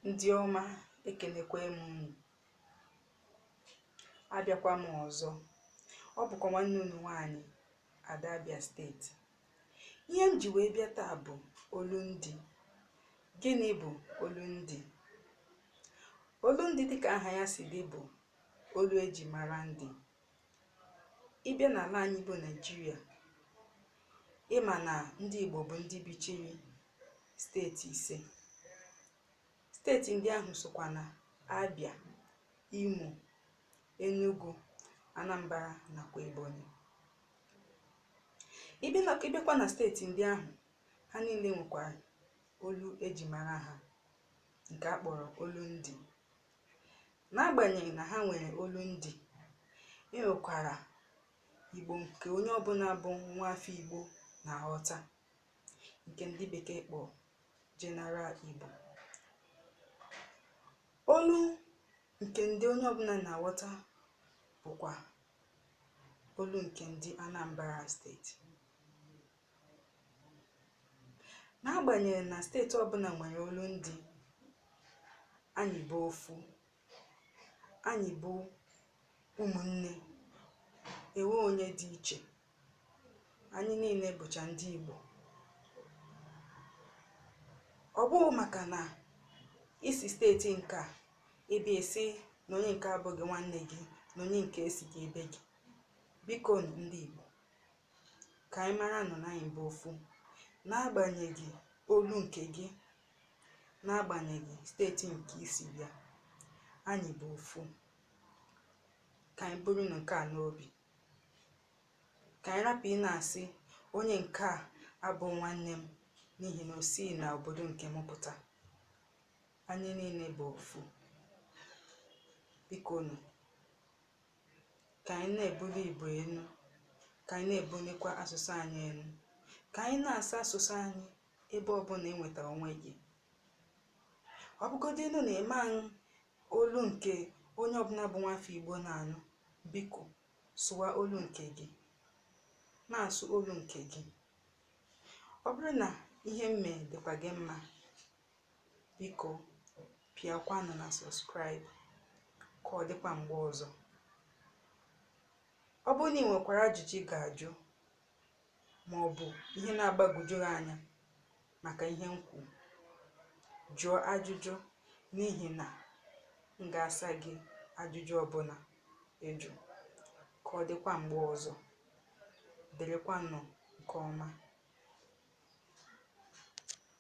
ndị ọma ekelekwa m unu abịakwa m ọzọ ọ bụkwa nwanne unu nwaanyị ada Abia steeti ihe m ji wee bịa taa bụ olundị gịnị bụ olundị olundị dịka aha ya si dị bụ olu eji mara ndị ị bịa n'ala anyị bụ Naịjirịa ị ma na ndị Igbo bụ ndị bichiri steeti ise steeti ndị ahụ sokwa na Abia Imo Enugu Anambra nakwa Ebonyi ị bịa na- ị bịakwa na steeti ndị ahụ ha niile nwekwara olu eji mara ha nke a kpọrọ olu ndị N'agbanyeghị na ha nwere olundị, e nwekwara Igbo nke onye ọbụla bụ nwa afọ Igbo na-aghọta, nke ndị bekee kpọ General Igbo. Olu nke ndị onye ọbụla na-aghọta bụkwa olu nke ndị Anambra steeti. n'agbanyeghị na steeti ọbụla nwere olu ndị anyị bụ ofu anyị bụ ụmụnne enwe onye dị iche anyị niile bụcha ndị Igbo ọ bụghị maka na i si steeti nke a ị bịa sị na onye nke a abụghị nwanne gị na onye nke a esighị ebe gị biko ndị Igbo ka anyị maranụ na anyị bụ ofu n'agbanyeghị olu nke gị n'agbanyeghị steeti nke i si bịa anyị bụ ofu ka anyị burunu nke a n'obi ka anyị rapụ ịna-asị onye nke a abụ nwanne m n'ihi na o si na obodo nke m pụta anyị niile bụ ofu bikonụ ka anyị na-ebuli Igbo elu ka anyị na-ebulikwa asụsụ anyị elu ka anyị na-asụ asụsụ anyị ebe ọbụla ị nwetara onwe gị ọ bụgodịnụ na ị ma anụ olu nke onye ọbụla bụ nwafọ Igbo na-anụ biko sụwa olu nke gị na-asụ olu nke gị ọ bụrụ na ihe m mee dịkwa gị mma biko pịakwanụ na subscribe ka ọ dịkwa mgbe ọzọ ọ bụrụ na ị nwekwara ajụjụ ị ga-ajụ ma ọ bụ ihe na-agbagwoju gị anya maka ihe m kwuru jụọ ajụjụ n'ihi na m ga-asa gị ajụjụ ọbụla ị jụ ka ọ dịkwa mgbe ọzọ dịrịkwanụ nke ọma